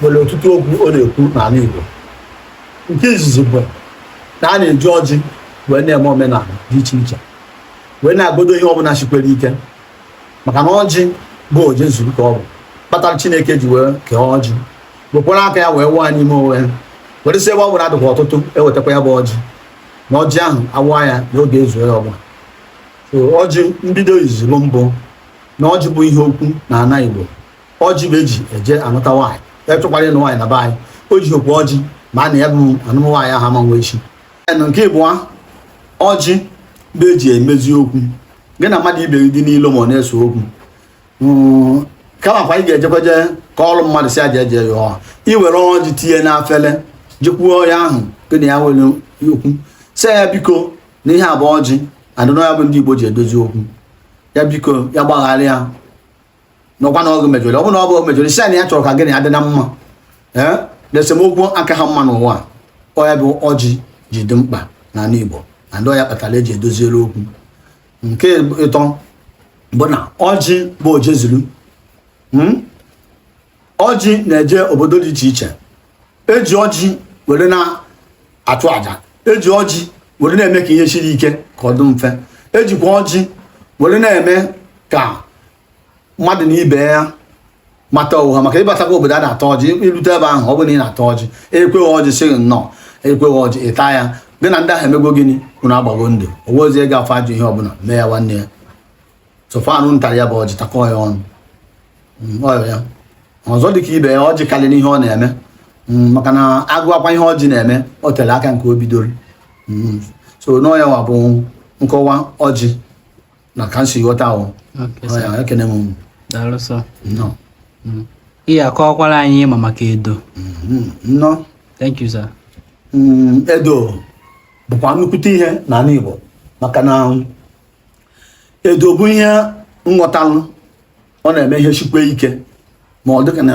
nwere ọtụtụ okwu ọ na-ekwu n'ala Igbo nke izizi bụ na a na-eji ọjị wee na-eme omenala dị iche iche wee na-agọdo ihe ọbụla shikwere ike maka na ọjị bụ oje zuru ka ọ bụ kpatara Chineke ji wee kee ọjị wekwara aka ya wee waa n'ime onwe ya were sị ebe ọ bụla a dịkwa ọtụtụ ewetakwa ya bụ ọjị na ọjị ahụ a waa ya na ọ ga-ezu ya ọbụla ọjị mbido izizi bụ na ọjị bụ ihe okwu na ana Igbo ọjị bụ eji eje anụta nwaanyị onye chọkwara ịnụ nwaanyị na be anyị o jihokwo ọjị mara na ya bụ anụmụ nwaanyị ahụ ama nwe ishi nke ịbụa ọjị bụ eji emezi okwu gị na mmadụ ibe gị dị n'ilo ma ọ na-ese okwu hmm, kama kwa ị ga-ejekwaje ka ọrụ mmadụ si aja eje ya ọha iwere ọjị tinye n'afele jekwuo onye ahụ gị na ya nwere okwu sị ya biko na ihe a bụ ọjị and na ọ ya bụ ndị Igbo ji edozi okwu ya biko ya gbaghara ya na ọ kwa na ọ gị mejọrọ ọ bụ na ọ bụ ya mejọrọ ị sị na ya chọrọ ka gị na ya dị na mma ee na esemokwu akahọ mma n'ụwa ọ ya bụ ọjị ji dị mkpa n'ala Igbo and ọ ya kpatara eji edoziere okwu nke ịtọ bụ na ọjị bụ ojezuru hmm? ọjị na-eje obodo dị iche iche eji ọjị were na-achụ aja eji ọjị were na-eme ka ihe siri ike ka ọ dị mfe ejikwa ọjị were na-eme ka mmadụ na ibe ya mata onwe ha maka ịbatakwa obodo a na-ata ọjị irute ebe ahụ ọ bụrụ na ị na-ata ọjị enyekwa gị ọjị sị gị nnọọ enyekwa gị ọjị ịtaa ya gị na ndị ahụ emego gịnị unu agbago ndụ o nwezie ga afọ ajọ ihe ọbụla mee ya nwanne ya so far unu tara ya bụ ọjị takọọ ya ọnụ mm, ya ọzọ dịka ibe ya ọjị karịrị n'ihe ọ na-eme mm, maka na agụwakwa ihe ọjị na-eme o tere aka nke o bidoro mm, so na ọ ya wa bụ nkọwa ọjị na ka m si ghọta ahụ ekene m ị ya-akọwakwara anyị ma maka edo mm-hmm. nnọọ thank you sir edo bụkwa nnukwute ihe n'ala Igbo maka na edo bụ ihe m ghọtalụ ọ na-eme ihe shikwe ike ma ọ dịka na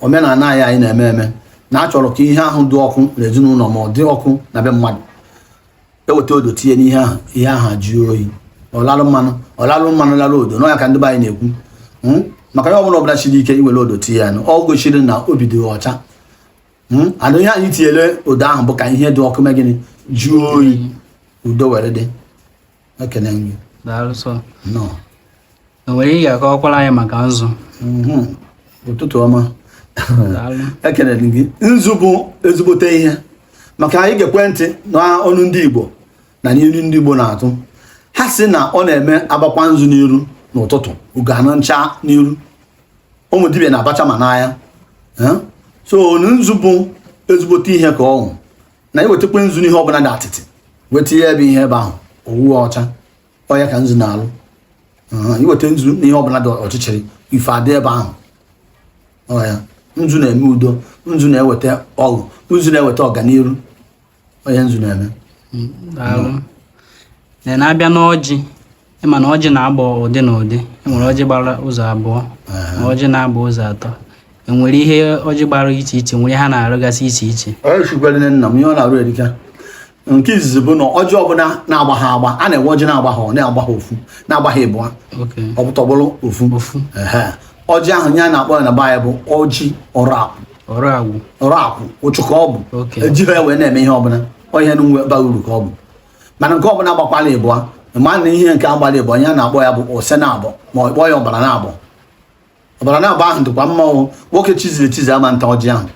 omenala anyị anyị na-eme eme na a chọrọ ka ihe ahụ dị ọkụ n'ezinụlọ ma ọ dị ọkụ na be mmadụ eweta odo tinye n'ihe ahụ ihe ahụ ajụọ oyi ọlalụ mmanụ ọlalụ mmanụ lalụ odo na ọ ya ka ndị be anyị na-ekwu hmm? maka ihe ọbụla ọbụla shiri ike iwere odo tinye ya nụ ọ goshiri na obi dị ọcha hmm? and ihe anyị tinyere odo ahụ bụ ka ihe dị ọkụ mee gịnị jụọ oyi udo were dị ekene nri daalụ sọ nọ o nwere ihe ị ga-akọwakwara anyị maka nzu Mhm. ụtụtụ ọma daalụ ekelere m gị nzu bụ ezigbote ihe maka na ị gekwe ntị n'ọnụ ndị igbo na n'iru ndị igbo na-atụ ha si na ọ na-eme abakwa nzu n'iru n'ụtụtụ ugo anụ ncha n'iru ụmụ dibịa na-abacha ma n'anya Eh? so nzu bụ ezigbote ihe ka ọ wụ na iwetakwa nzu n'ihe ọbụla dị atịtị weta ihe ebe ihe ebe ahụ owu ọcha ọya ka nzu na-alụ iweta nzu n'ihe ọbụla dị ọchịchịrị ife adị ebe ahụ ọya nzu na-eme udo nzu na-eweta ọṅụ nzu na-eweta ọganiru ọya nzu na-eme then abịa n'ọjị ịma na ọjị na-agba ụdị na ụdị enwere ọjị gbara ụzọ abụọ na ọjị na-agba ụzọ atọ enwere ihe ọjị gbara iche iche nwere ha na-arụgasị iche iche nna m ihe ọ na-arụ erika nke izizi bụ na ọjị ọbụla na-agbaha agba a na-enwe ọjị na-agbaha ọ na-agbaha ofu na-agbaha ịbụa ọ bụ tọgbọrọ ofu ọjị ahụ ihe a na-akpọ ya na be anyị bụ ọjị ọrụ akwụ ọrụ akwụ ụchụ ka ọ bụ ejighị ya wee na-eme ihe ọbụla ọ ihe na-enwebaha uru ka ọ bụ mana nke ọbụla gbakwala ịbụa ma na ihe nke gbara ịbụa ihe a na-akpọ ya bụ ose naabọ ma ọ kpọọ ya ọgbara naabọ ọgbara naabọ ahụ dịkwa mma nwoke chiziri echizi ama nta ọjị ahụ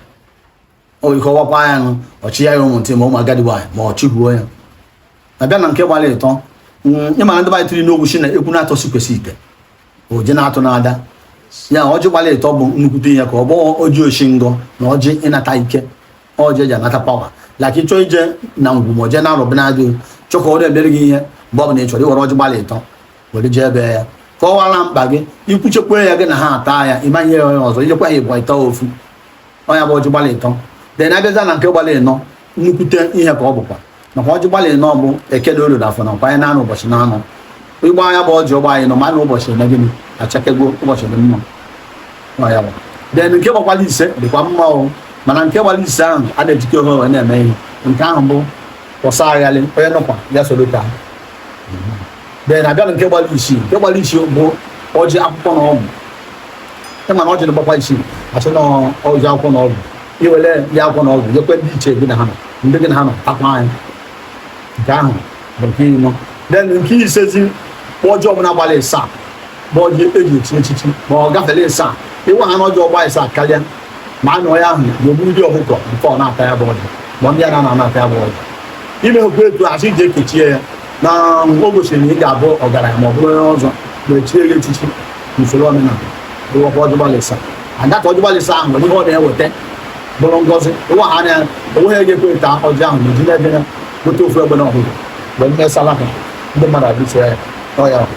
o ike ọwakwa ya nụ ọ chịnye ya ụmụ ntị ma ụmụ agadi nwaanyị ma ọ chịhuo ya then abịa na nke gbara ịtọ ịma na ndị be anyị tụrụ n'okwu shị na ekwu naatọ sikwasị ite oje na-atụ n'ada ya ọjị gbara ịtọ bụ nnukwute ihe ka ọ bụ ọjị oshi ngọ na ọjị ịnata ike ọjị eji anata power like ị chọọ ije na ngwu ma oje na-arụbụ na-adị chọkọ ọrụ emere gị ihe mgbe ọ bụla ị chọrọ iwere ọjị gbara ịtọ were jee be ya kọwara mkpa gị ikwuchekwa ya gị na ha ata ya ị ma-enye ya onye ọzọ ijekwa ya ịbụa ịta ofu ọya bụ ọjị gbalị ịtọ then abịazịa na nke gbalị ịnọ nnukwute ihe ka ọ bụkwa maka ọjị gbalị ịnọ bụ eke na olie na afọ na nkwọ ahịa naanọ ụbọchị naanọ ịgba anya bụ ọjị ọ gbaa ịnọ ma na ụbọchị eme gịnị achakego ụbọchị dị mma ọya bụ then nke gbakwala ise dịkwa mma o mana nke gbara ise ahụ a na-ejikọ onwe wee na-eme ihe nke ahụ bụ kwụsa aghalị onye nọkwa ya soro ka then abịa na nke gbara isii nke gbara isii bụ ọjị akwụkwọ na ọgwụ ịma na ọjị na-agbakwa isii asị na ọjị akwụkwọ na ọgwụ iwere ya akwụkwọ na ọgwụ nyekwe ndị ichie gị na ha nọ ndị gị na ha nọ takwa anyị nke ahụ bụ nke ịnọ then nke isezi ọjị ọbụla gbara ịsaa bụ ọjị eji echi echichi ma ọ gafere ịsaa ịwa ha n'ọjị ọ gbaa ịsaa karịa ma a nụọ ya ahụ ga-egbu ndị ọkụkọ mfe ọ na-ata ya bụ ọjị ma ndị a na-ata ya bụ ọjị ime hụkwa etu asị ji ekechie ya na o gosiri na ị ga-abụ ọgaranya ma ọ bụrụ onye ọzọ ma echie ya echichi n'usoro omenala ịwakwa ọjị gbara ịsaa ada ka ọjị gbara ịsaa ahụ nwere ihe ọ na-eweta bụrụ ngọzi ịwa ha anya onweghị ga-ekwe ta ọjị ahụ na eji na-ebe ya gote ofu egbene ọhụrụ mgbe mmesala ha ndị mmadụ abịa ya n'ọya ọhụrụ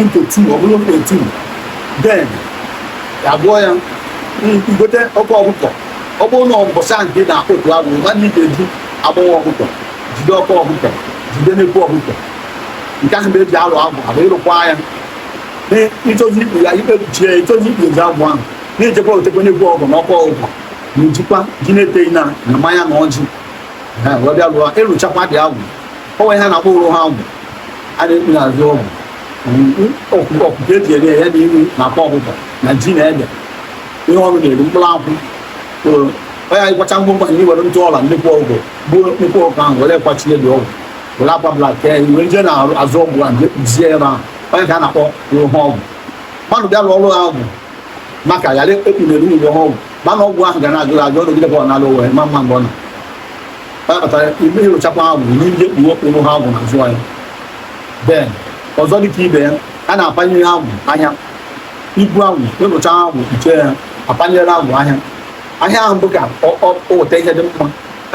into two ọ bụrụ mkpe two then ya abụọ ya igote oke ọkụkọ ọ bụrụ na ụbọchị ahụ nke na-akpọ otu agwụ ma ndị ga-eji agbọghọ ọkụkọ jide oke ọkụkọ jide nnekwu ọkụkọ nke ahụ bụ eji alụ agwụ abụ ịrụkwa ya ịchọzi ikpu ya ikpe kpuchie ya ịchọzi ikpu ezi agwụ ahụ na-ejekwa egotekwa nnekwu ọkụkọ na oke ọkụkọ na ejikwa ji na iteghị na mmanya na ọjị wee bịa lụọ ịrụchakwa dị agwụ o nwere ihe a na-akpọ ụrụ ha agwụ a na-ekpu n'azụ agwụ ọkụkọ ọkụkọ eji eri ya na ihu na akwa ọkụkọ na ji na ede ihe ọrụ na-eri mkpụrụ akwụ onye ị kwacha ngwongwo anyị were ntụ ọla nnekwu ọkụkọ gbuo nnekwu ọkụkọ ahụ were kwachie dị agwụ were akwa blak kee were jee na azụ agwụ ahụ jee kpuzie ebe ahụ ọ ya ka a na-akpọ ụrụ ha agwụ mmadụ bịa lụọ ụrụ ha agwụ maka ghara ekpughere ụrụ ha agwụ mana agwụ ahụ ga na-ajụ ajụ ọ dịgide ka ọ na-alụ wee ma mma mgbe ọ na kpatara ime ịrụchakwa agwụ nye ndị ekpuru ụrụ ha agwụ n'azụ ya then ọzọ dịka ibe ya a na-apanyere agwụ ahịa ibu agwụ ịrụcha agwụ kpuchie ya apanyere agwụ ahịa ahịa ahụ bụ ka o weta ihe dị mma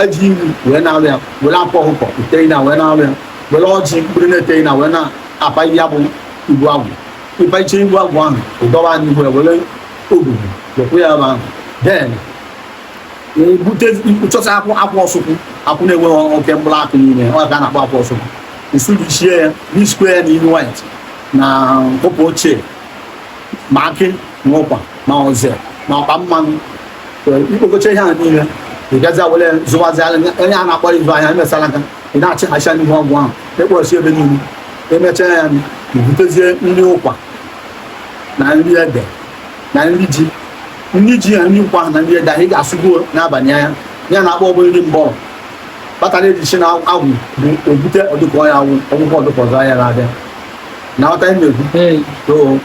eji iri wee na-alụ ya were akwa ọkụkọ iteghị na wee na-alụ ya were ọjị mkpụrụ na iteghị na wee na-apanye ya bụ ibu agwụ ịpacha ibu agwụ ahụ ị dọwa n'ihu ya were ogugu wepụ ya ebe ahụ then ebute chọta akwụ akwụ osukwu akwụ na-enweghị oke mkpụrụ akụ n'ime ọ ka a na-akpọ akwụ osukwu ị sụjichie ya n'isi ikwe ya na nnu white na ụpụ ochie ma akị na ụkwa ma azụ ma ọkpa mmanụ ikpokọcha ihe a niile ị gazi were zụwazi onye a na-akpọ ịzụ ahịa emesara aka ị na-achị hacha n'ihu agwụ ahụ ekpọrọsi ebe niile emechaa ya butezie nri ụkwa na nri ede na nri ji nri ji na nri ụkwa na nri ede ahụ ị ga-asụgo n'abalị ahụ ya na akpọ ọbụla nri mbọrọ kpatara ejichi na agwụ bụ ebute ọdụkọ ya awụ ọgwụgwọ ọdụkọ ọzọ anya na-abịa na ọta ị na-ekwu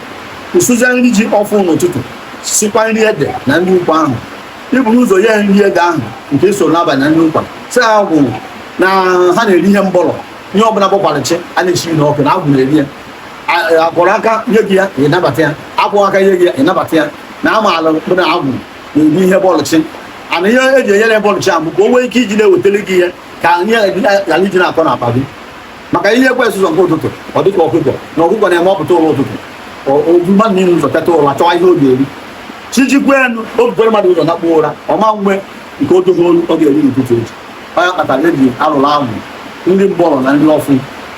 ị sụzie nri ji ọfụụ n'ụtụtụ sikwa nri ede na nri ụkwa ahụ iburu ụzọ nye nri ede ahụ nke so n'abalị na nri ụkwa sị agwụ na ha na-eri ihe mbọrọ ihe ọbụla bọkwara chi a na-esi n'ọkụ na agwụ na-eri ya akwọrọ aka nye gị ya ịnabata ya akwọghị aka nye gị ya ịnabata ya na amaala mkpụ na agwụ na-ebu ihe bọọlụ chi ana ihe eji enyere bọọlụ chi ahụ ka o nwee ike iji na-ewetele gị ihe ka ihe ghara iji na-akọ n'akpa gị maka ihe ekwesị ụzọ nke ụtụtụ ọ dịka ọkụkọ na ọkụkọ na-eme ọ pụta ụra ụtụtụ o buru mmadụ niile ụzọ teta ụra chọwa ihe ọ ga-eri chi jikwa enu o bukwara mmadụ ụzọ nakpuo ụra ọ ma nwe nke o dogo ọ ga-eri n'ụtụtụ echi ọ ya kpatara eji alụrụ ahụ ndị mgbọrọ na ndị ọfụ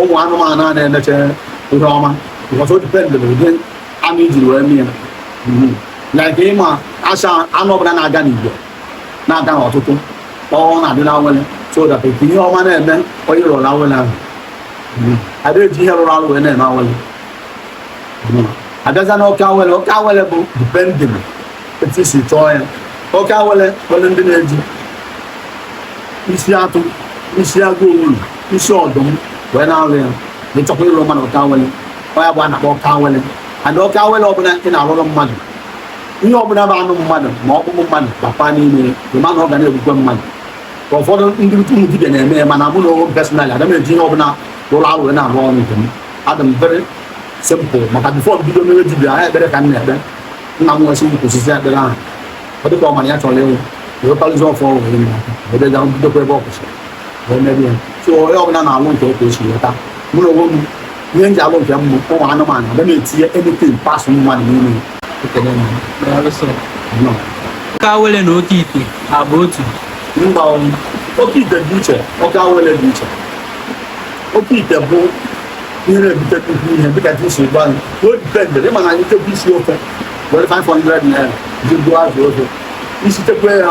ụmụ anụmanụ a na-emecha ihe ọma because o depend na ụdị anụ i jiri wee mee ya mhm. like ịma acha anụ ọbụla na-aga n'igwe na-aga n'ọtụtụ ọ na-adị na awele so that ihe ọma na-eme onye rụrụ awele ahụ mhm. ada eji ihe rụrụ arụ wee na-eme awele mhm. abịaza na oke awele oke awele bụ depending etu i si chọọ ya oke awele nwere ndị na-eji isi atụ isi agụ owuru isi ọdụm wee na-alụ ya na ị chọkwa ịlụ mmadụ oke awele ọ ya bụ a na-akpọ oke awele and oke awele ọbụla ị na-alụrụ mmadụ ihe ọbụla bụ anụ mmadụ ma ọkpụkpụ mmadụ bakwa n'ime ị ma na ọ ga na-egbukwe mmadụ ka ụfọdụ ndị ụmụ dibia na-eme ya mana mụ na onwe personally ada m eji ihe ọbụla rụrụ arụ wee na-arụ ọrụ nke m adị m very simple maka before m bido mebe dibia ha ekpere ka m na-ekpe nna m nwesị nnukwu osisi ekpere ahụ ọ dịka ọ mara ya chọrọ ịnwụ wee kpalụzi ọfọ wee bidokwa ebe ọ kwụsịrị wee mebe ya so onye ọbụla na-alụ nke otu esi leta mụ na onwe m ihe m ji alụ nke m bụ ụmụ anụmanụ ada m etinye anything parts mmadụ n'ime ekele m nọ oke awele na oke ite ha bụ otu mba oke ite dị iche oke awele dị iche oke ite bụ ihe na-ebute nnukwu ihe dịka dị isi gbanụ o dipendere ị ma na anyị chọkwa isi ofe were 500 naira je goo azụ ofe i sichakwa ya